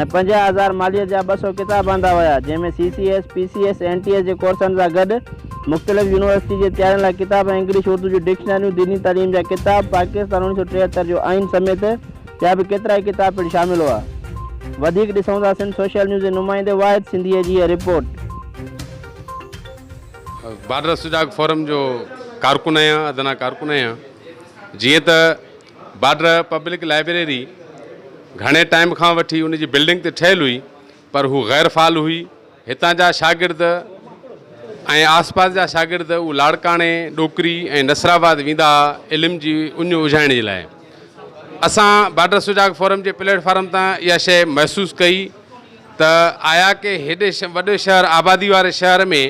۽ پنجاهه هزار ماليت جا ٻه سؤ ڪتاب آندا ويا، جنهن ۾ C C S, P C S, N T S جي ڪورسن سان گڏ مختلف يونيورسٽي جي تيارين لاء ڪتاب ۽ انگلش اردو جون ڊڪشنريون، ديني تعليم جا ڪتاب، پاڪستان اوڻيھ سؤ ٽيهتر جو آئين سميت ٻيا به ڪيترائي ڪتاب پڻ شامل هئا. وڌيڪ ڏسون ٿا سنڌ سوشل نيوز جي نمائندي واحد سنڌيء جي هيء رپورٽ. بارڊر سجاڳ فورم جو ڪارڪن آهيان، ادنيٰ ڪارڪن آهيان. جيئن ته بارڊر پبلڪ لائبريري گهڻي ٽائيم کان وٺي ان جي بلڊنگ تي ٺهيل هئي پر هو غير فعال هئي. هتان جا شاگرد ۽ آس پاس جا شاگرد اهو لاڙڪاڻي، ڏوڪري ۽ نصرآباد ويندا ها علم جي اڃ اجهائڻ جي لاء. اسان بارڊر سجاڳ فورم جي پليٽ فارم تان اها شيء محسوس ڪئي ته آيا ڪي هيڏي وڏي شهر آبادي واري شهر ۾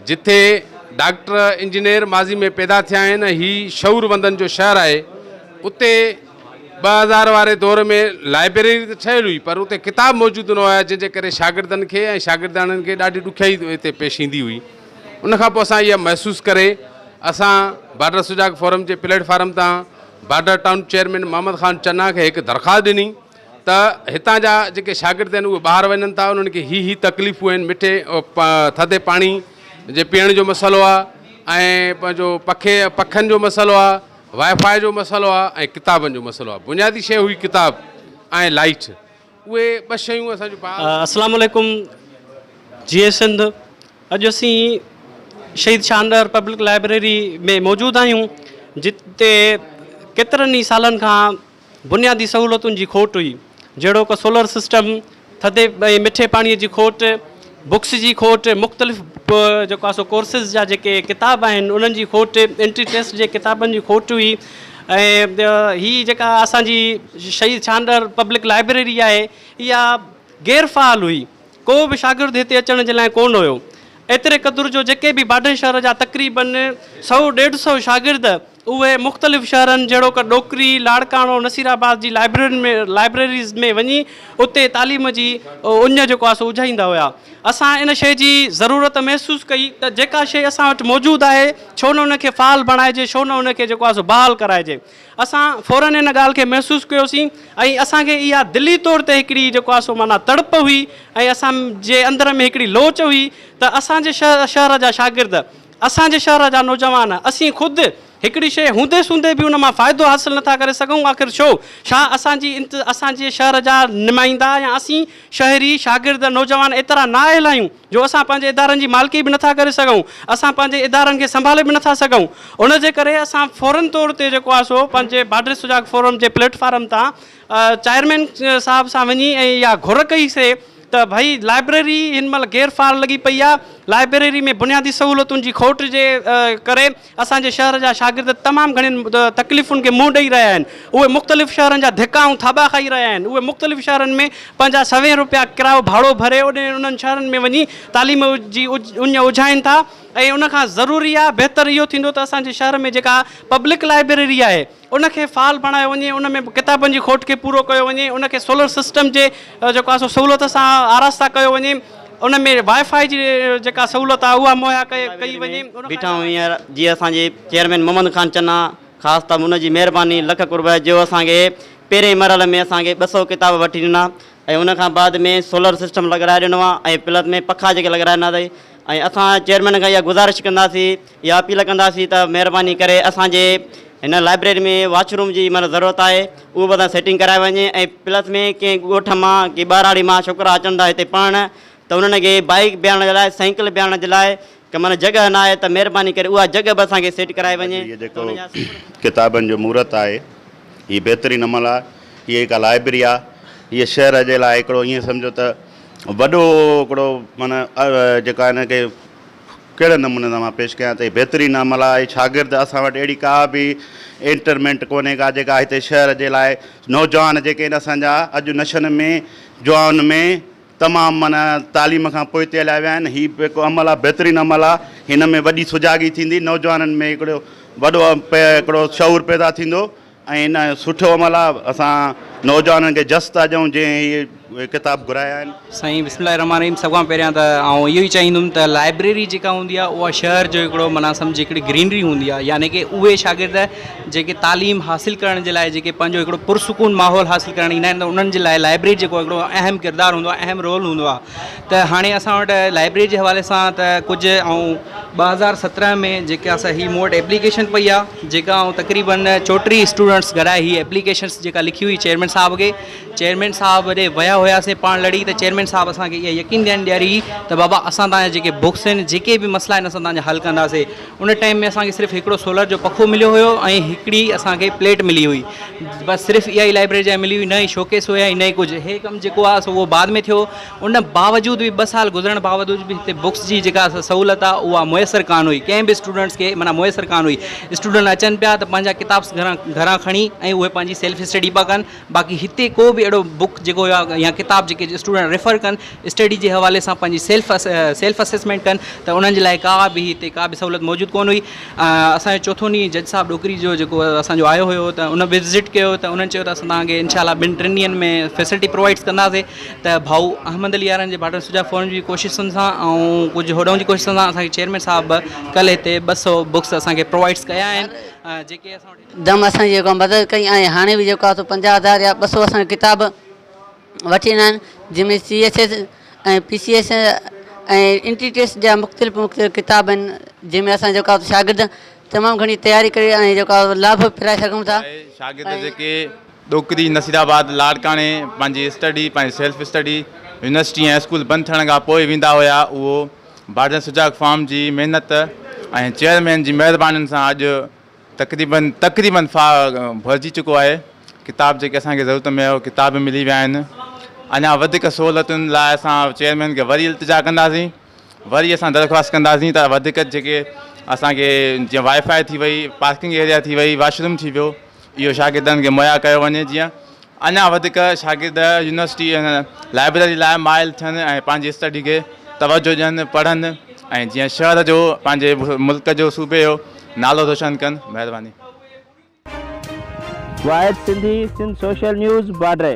جتي ڊاڪٽر انجنيئر ماضي ۾ پيدا ٿيا آهن ۽ هي شعور وندن جو شهر آهي اتي ٻه هزار واري دور ۾ لائبريري ته ٺهيل هئي پر اتي ڪتاب موجود نه هيا جنهن جي ڪري شاگردن کي ۽ شاگردياڻين کي ڏاڍي ڏکيائي اتي پيش ايندي هئي ان کان پوء اسان اها محسوس ڪري اسان بارڊر سجاڳ فورم جي پليٽ فارم تان border town chairman Muhammad Khan Channa کي هڪ درخواست ڏني ته هتان جا جيڪي شاگرد آهن اهي ٻاهر وڃن ٿا انهن کي هي هي تڪليفون آهن مٺي ٿڌي پاڻي جي پيئڻ جو مسئلو آهي ۽ پنهنجو پکي پکن جو مسئلو آهي واء فاء جو مسئلو آهي ۽ ڪتابن جو مسئلو آهي بنيادي شي هئي ڪتاب ۽ لائيٽ اهي ٻه شيون اسان جو السلام عليڪم جي سنڌ اڄ اسين شهيد شاندار پبلڪ لائبريري ۾ موجود آهيون جتي ڪيترن ئي سالن کان بنيادي سهولتن جي کوٽ هئي، جهڙوڪ سولر سسٽم، ٿڌي ۽ مٺي پاڻي جي کوٽ، بڪس جي کوٽ، مختلف جيڪو آهي سو ڪورسز جا جيڪي ڪتاب آهن انهن جي کوٽ، انٽري ٽيسٽ جي ڪتابن جي کوٽ هئي ۽ هي جيڪا اسان جي شهيد ڇانڊر پبلڪ لائبريري آهي اها غير فعال هئي، ڪو به شاگرد هتي اچڻ جي لاء ڪونه هيو، ايتري قدر جو جيڪي به باڊن شهر جا تقريبن سؤ ڏيڍ سؤ شاگرد اهي مختلف شهرن جهڙوڪ ڏوڪري، لاڙڪاڻو، نصير آباد جي لائبررين ۾ Libraries ۾ وڃي اتي تعليم جي اڃ جيڪو آسو اجهائيندا هيا. اسان ان شيء جي ضرورت محسوس ڪئي ته جيڪا شيء اسان وٽ موجود آهي ڇو نه ان کي فعال بڻائجي ڇو نه ان کي جيڪو آسو بحال ڪرائجي. اسان فورن ان ڳالهه کي محسوس ڪيوسين ۽ اسان کي اها دلي طور تي هڪڙي جيڪو آسو معنيٰ تڙپ هئي ۽ اسان جي اندر ۾ هڪڙي لوچ هئي ته اسان جي شهر جا شاگرد اسان جي شهر جا نوجوان، اسين خود، هڪڙي شيء هوندي سوندي به ان مان فائدو حاصل نٿا ڪري سگهون، آخر ڇو؟ ڇا اسان جي انت اسان جي شهر جا نمائندا يا اسين شهري، شاگرد، نوجوان ايترا نااهل آهيون، جو اسان پنهنجي ادارن جي مالڪي به نٿا ڪري سگهون، اسان پنهنجي ادارن کي سنڀالي به نٿا سگهون. ان جي ڪري اسان فوري طور تي جيڪو آهي سو پنهنجي باڊري سجاڳ فورم جي پليٽ فارم تان چيئرمين صاحب سان وڃي ۽ اها گهر ڪئي سي ته ڀئي لائبريري هن مهل غير فعال لڳي پئي آهي، لائبريري ۾ بنيادي سهولتن جي کوٽ جي ڪري اسان جي شهر جا شاگرد تمام گهڻين تڪليفن کي منهن ڏئي رهيا آهن، اهي مختلف شهرن جا ڌڪا ۽ ٿاٻا کائي رهيا آهن، اهي مختلف شهرن ۾ پنهنجا سوين روپيا ڪرايو ڀاڙو ڀري انهن شهرن ۾ وڃي تعليم جي اڃ اجهائين ٿا ۽ ان کان ضروري آهي بهتر اهو ٿيندو ته اسان جي شهر ۾ جيڪا پبلڪ لائبريري آهي. ان کي فعال بڻايو وڃي، ان ۾ ڪتابن جي کوٽ کي پورو ڪيو وڃي، ان کي سولر سسٽم جي جيڪو آهي سو سهولت سان آراسته ڪيو وڃي، ان ۾ وائي فائي جي جيڪا سهولت آهي اها مهيا ڪئي وڃي. بيٺا آهيون هينئر جي اسان جي چيئرمين محمد خان چنا خاص طور ان جي مهرباني لک قرب جو اسان کي پهرين مرحلي ۾ اسان کي ٻه سؤ ڪتاب وٺي ڏنا ۽ ان کان بعد ۾ سولر سسٽم لڳرائي ڏنو آهي ۽ پلس ۾ پکا جيڪي لڳرائي ڏنا اٿئي ۽ اسان چيئرمين کان اها گذارش ڪنداسين اها اپيل ڪنداسين ته مهرباني ڪري اسان جي هن لائبريري ۾ واش روم جي معنيٰ ضرورت آهي اهو به اسان سيٽنگ ڪرائي وڃي ۽ پلس ۾ ڪنهن ڳوٺ مان ڪنهن ٻهراڙي مان ڇوڪرا اچن ٿا هتي پڙهڻ ته انهن کي بائيڪ بيهارڻ جي لاء سائيڪل بيهارڻ جي لاء ڪا معنيٰ جڳهه نه آهي ته مهرباني ڪري اها جڳهه به اسان کي سيٽ ڪرائي وڃي اڄ هي جيڪو ڪتابن جو مورت آهي هي بهترين عمل آهي هي هڪ لائبرري آهي هي شهر جي لاء هڪڙو ائين سمجهو ته وڏو هڪڙو معنيٰ جيڪا هن کي ڪهڙي نموني سان مان پيش ڪيان ته هي بهترين عمل آهي هي شاگرد اسان وٽ اهڙي ڪا به انٽرمينٽ ڪونهي ڪا جيڪا هتي شهر جي لاء نوجوان جيڪي آهن اسان جا اڄ نشن ۾ جوان ۾ تمام معنيٰ تعليم کان پوئتي هليا ويا آهن هي به هڪ عمل آهي بهترين عمل آهي هن ۾ وڏي سجاڳي ٿيندي نوجوانن ۾ هڪڙو وڏو هڪڙو شعور پيدا ٿيندو ۽ ان سٺو عمل آ اسان نوجوانن کي جس ٿا ڏيون جنهن اهي ڪتاب گهرايا آهن. سائين بسم الله الرحمٰن الرحيم سڀ کان پهريان ته آئون اهو ئي چاهيندم ته لائبريري جيڪا هوندي آهي اها شهر جو هڪڙو معنيٰ سمجهي هڪڙي گرينري هوندي آهي يعني ڪي اهي شاگرد جيڪي تعليم حاصل ڪرڻ جي لاء جيڪي پنهنجو هڪڙو پرسڪون ماحول حاصل ڪرڻ ايندا آهن ته انهن جي لاء لائبريري جيڪو هڪڙو اهم ڪردار هوندو آهي اهم رول هوندو آهي ته هاڻي اسان وٽ لائبرري جي حوالي سان ته ڪجهه آئون ٻه هزار سترهن ۾ جيڪي اسان هي مون وٽ ايپليڪيشن پئي آ جيڪا آئون تقريبن چوٽيهه اسٽوڊنٽس گهرائي هي ايپليڪيشنس جيڪا لکي هئي چيئرمين صاحب کي چيئرمين صاحب ڏي ويا هياسين پاڻ لڙي ته چيئرمين صاحب اسان کي اها يقين ڏيان ڏياري ته بابا اسان تان جا جيڪي بڪس آهن جيڪي به مسئلا آهن اسان تان جا حل ڪنداسي ان ٽائيم ۾ اسان کي صرف هڪڙو سولر جو پکو مليو هيو ۽ هڪڙي اسان کي پليٽ ملي هئي بس صرف اها ئي لائبرري جا ملي هئي نه ئي شوڪيس هيا نه ئي ڪجهه هي ڪم جيڪو آ سو اهو بعد ۾ ٿيو ان باوجود به ٻه سال گذرڻ باوجود به هتي بڪس جي جيڪا سهولت آ اها ميسر ڪانه هئي ڪنهن به اسٽوڊنٽس کي معنيٰ ميسر ڪانه هئي اسٽوڊنٽ اچن پيا ته پنهنجا ڪتابس گهران گهران کڻي ۽ اهي پنهنجي سيلف اسٽڊي پيا ڪن باقي هتي ڪو به اهڙو بڪ جيڪو هيو آ يا ڪتاب جيڪي اسٽوڊنٽ ريفر ڪن اسٽڊي جي حوالي سان پنهنجي سيلف سيلف اسيسمينٽ ڪن ته انهن جي لاء ڪا به هتي ڪا به سهولت موجود ڪونه هئي اسان جو چوٿون ڏينهن جج صاحب ڏوڪري جو جيڪو اسان جو آيو هيو ته ان وزٽ ڪيو ته انهن چيو ته اسان تهان کي انشاء الله ٻن ٽن ڏينهن ۾ فيسلٽي پرووائڊس ڪنداسين ته ڀائو احمد علي يارن جي ڀاٽن سجا فورن جي ڪوششن سان ۽ ڪجهه هوڏنهن جي ڪوششن سان اسان کي چيئرمين صاحب ڪل هتي ٻه سؤ بڪس اسان کي پرووائيڊس ڪيا آهن جيڪي اسان وٽ هيٺ دم اسان جي جيڪا مدد ڪئي ۽ هاڻي به جيڪو آهي سو پنجاهه هزار يا ٻه سؤ اسان ڪتاب وٺي ويندا آهن جنهن ۾ C S S ۽ P C S ۽ entry test جا مختلف مختلف ڪتاب آهن جنهن ۾ اسان جيڪو آهي شاگرد تمام گهڻي تياري ڪري ۽ جيڪو آهي لاڀ ڦيرائي سگهون ٿا ۽ شاگرد جيڪي ڏوڪري، نصير آباد، لاڙڪاڻي پنهنجي اسٽڊي، پنهنجي سيلف اسٽڊي، يونيورسٽي ۽ اسڪول بند ٿيڻ کان پوء ويندا هيا، اهو ڀاڙجن سجاڳ فارم جي محنت ۽ چيئرمين جي مهربانين سان اڄ تقريباً تقريباً فا ڀرجي چڪو آهي، ڪتاب جيڪي اسان کي ضرورت ۾ هيا اهي ڪتاب به ملي ويا آهن، اڃا وڌيڪ سهولتن لاء اسان چيئرمين کي وري التجا ڪنداسين، وري اسان درخواست ڪنداسين ته وڌيڪ جيڪي اسان کي جيئن وائي فائي ٿي وئي، پارڪنگ ايريا ٿي وئي، واشروم ٿي ويو. اهو شاگردن کي مهيا ڪيو وڃي جيئن اڃا وڌيڪ شاگرد يونيورسٽي لائبريري لاء مائل ٿين ۽ پنهنجي اسٽڊي کي توجهه ڏين پڙهن ۽ جيئن شهر جو پنهنجي ملڪ جو صوبي جو نالو روشن ڪن مهرباني. Wahid Sindhi Sindh social news Badri.